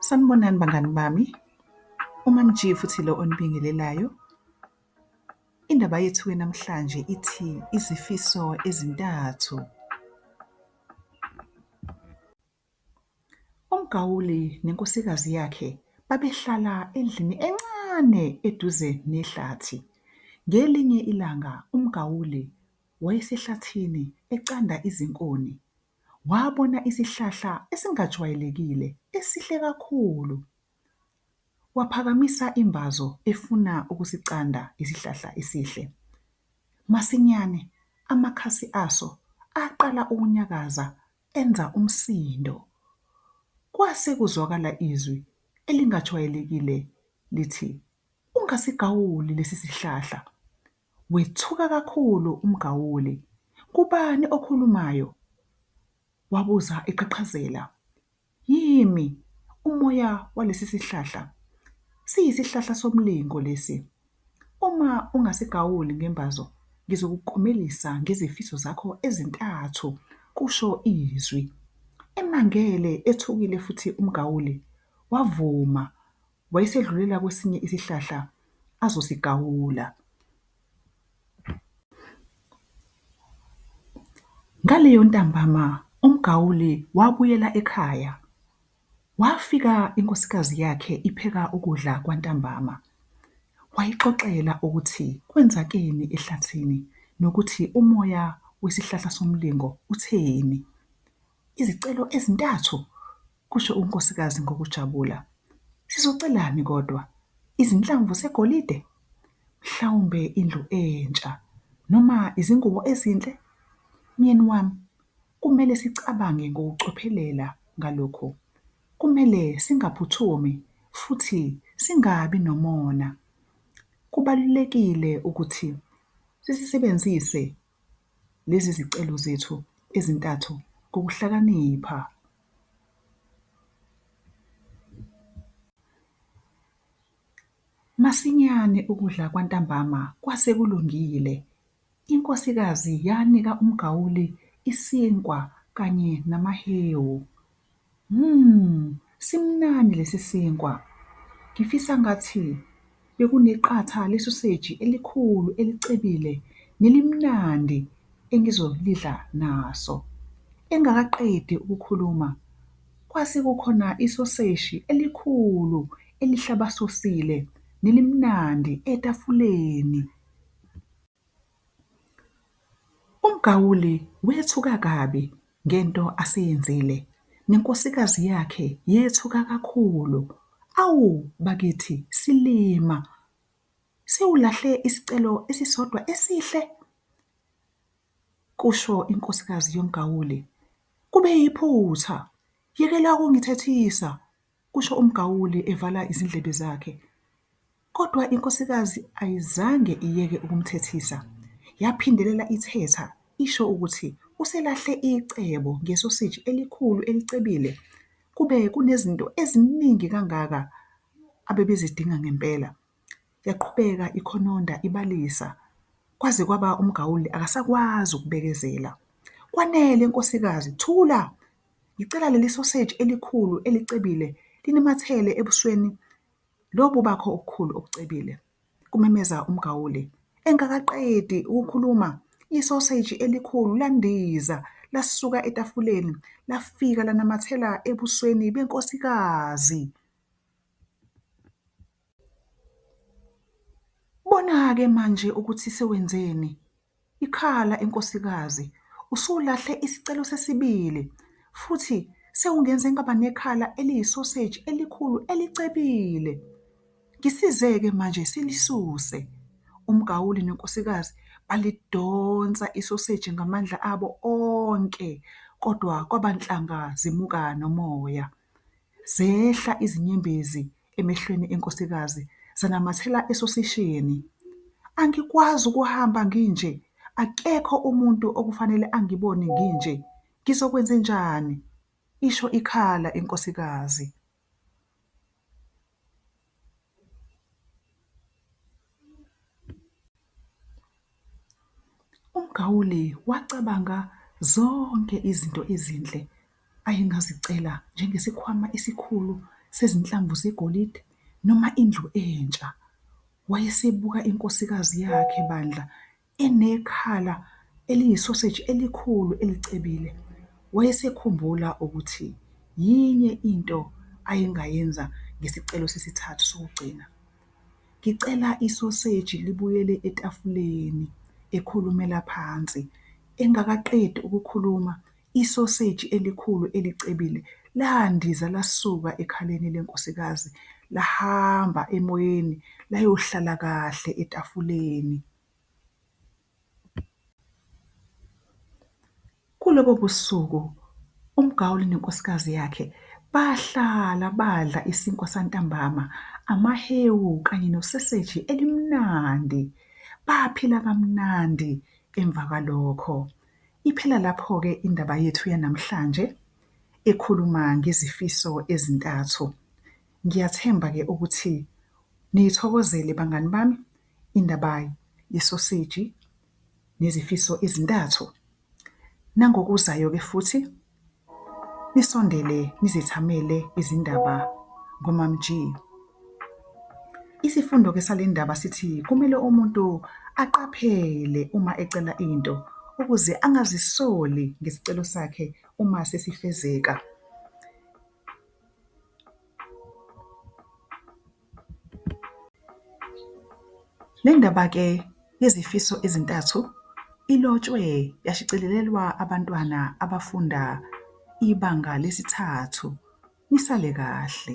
Sanibonani bangani bami, uMaMG futhi lo onibingelelayo. Indaba yethu namhlanje ithi izifiso ezintathu. UMgawuli nenkosikazi yakhe babehlala endlini encane eduze nehlathi. Ngelinye ilanga uMgawuli wayesehlathini ecanda izinkuni. wabona isihlahla esingajwayelekile esihle kakhulu. Waphakamisa imbazo efuna ukusicanda isihlahla esihle. Masinyane amakhasi aso aqala ukunyakaza enza umsindo. Kwase kuzwakala izwi elingajwayelekile lithi, Ungasigawuli lesi sihlahla. Wethuka kakhulu umgawuli. Ngubani okhulumayo? wabuza eqhaqhazela. Yimi, umoya walesi sihlahla. Siyisihlahla somlingo lesi. Uma ungasigawuli ngembazo, ngizokuklomelisa ngezifiso zakho ezintathu, kusho izwi. Emangele, ethukile futhi umgawuli, wavuma, wayesedlulela kwesinye isihlahla azosigawula. Ngaleyo ntambama umgawuli wabuyela ekhaya, wafika inkosikazi yakhe ipheka ukudla kwantambama, wayixoxela ukuthi kwenzakeni ehlathini nokuthi umoya wesihlahla somlingo utheni. Izicelo ezintathu! kusho unkosikazi ngokujabula. Sizocelani kodwa? Izinhlamvu zegolide? Mhlawumbe indlu entsha noma izingubo ezinhle? Myeni wami, kumele sicabange ngokucophelela ngalokhu. Kumele singaphuthumi futhi singabi nomona. Kubalulekile ukuthi sisisebenzise Lezi zicelo zethu ezintathu ngokuhlakanipha. Masinyane ukudla kwantambama kwase kulungile, inkosikazi yanika umgawuli isinkwa kanye namahewu. Mmm simnandi lesi sinkwa ngifisa ngathi bekuneqatha lesoseji elikhulu elicebile nelimnandi engizolidla naso. Engakaqedi ukukhuluma kwase kukhona isoseshi elikhulu elihlabasosile nelimnandi etafuleni. UMgauli wethuka kabi ngento aseyenzile nenkosikazi yakhe yethuka kakhulu. Awu bakithi silima! Siwulahle isicelo esisodwa esihle! kusho inkosikazi yoMgauli. Kube yiphutha! Yekela ukungithethisa! kusho umgawuli evala izindlebe zakhe. Kodwa inkosikazi ayizange iyeke ukumthethisa. Yaphindelela ithetha, isho ukuthi uselahle icebo ngesoseji elikhulu elicebile. Kube kunezinto eziningi kangaka abebezidinga ngempela. Yaqhubeka ikhononda ibalisa, kwaze kwaba umgawuli akasakwazi ukubekezela. Kwanele nkosikazi, thula! Ngicela leli soseji elikhulu elicebile linamathele ebusweni lobu bakho obukhulu obucebile, kumemeza uMgauli. Engakaqedi ukukhuluma, isoseji elikhulu landiza lasuka etafuleni lafika lanamathela ebusweni benkosikazi. Bona-ke manje ukuthi sewenzeni? Ikhala enkosikazi, Usulahle isicelo sesibili, futhi sewungenze ngaba nekhala eliyisoseji elikhulu elicebile. Ngisize-ke manje silisuse. UMgawuli nenkosikazi balidonsa isoseji ngamandla abo onke, kodwa kwaba nhlanga zimuka nomoya. Zehla izinyembezi emehlweni enkosikazi zanamathela esosishini. Angikwazi ukuhamba nginje, akekho umuntu okufanele angibone nginje, ngizokwenzenjani? isho ikhala inkosikazi. UMgauli wacabanga zonke izinto ezinhle ayengazicela njengesikhwama esikhulu sezinhlamvu zegolide noma indlu entsha. Wayesebuka inkosikazi yakhe bandla. Enekhala eliyisoseji elikhulu elicebile, wayesekhumbula ukuthi yinye into ayengayenza ngesicelo sesithathu sokugcina. Ngicela isoseji libuyele etafuleni, ekhulumela phansi. Engakaqedi ukukhuluma, Isoseji elikhulu elicebile landiza lasuka ekhaleni lenkosikazi lahamba emoyeni layohlala kahle etafuleni. Kulobo busuku uMgaul nenkosikazi yakhe bahlala badla isinkwa santambama, amahewu kanye noseseji elimnandi. Baphila kamnandi emva kwalokho. Iphela lapho-ke indaba yethu yanamhlanje ekhuluma ngezifiso ezintathu. Ngiyathemba-ke ukuthi niyithokozele bangani bami indaba yesoseji nezifiso ezintathu. Nangokuzayo-ke futhi Nisondele nizithamele izindaba ngoMaMG. Isifundo ke sale ndaba sithi kumele umuntu aqaphele uma ecela into ukuze angazisoli ngesicelo sakhe uma sesifezeka. Le ndaba ke yezifiso ezintathu ilotshwe yashicilelwa abantwana abafunda ibanga lesithathu. Nisale kahle.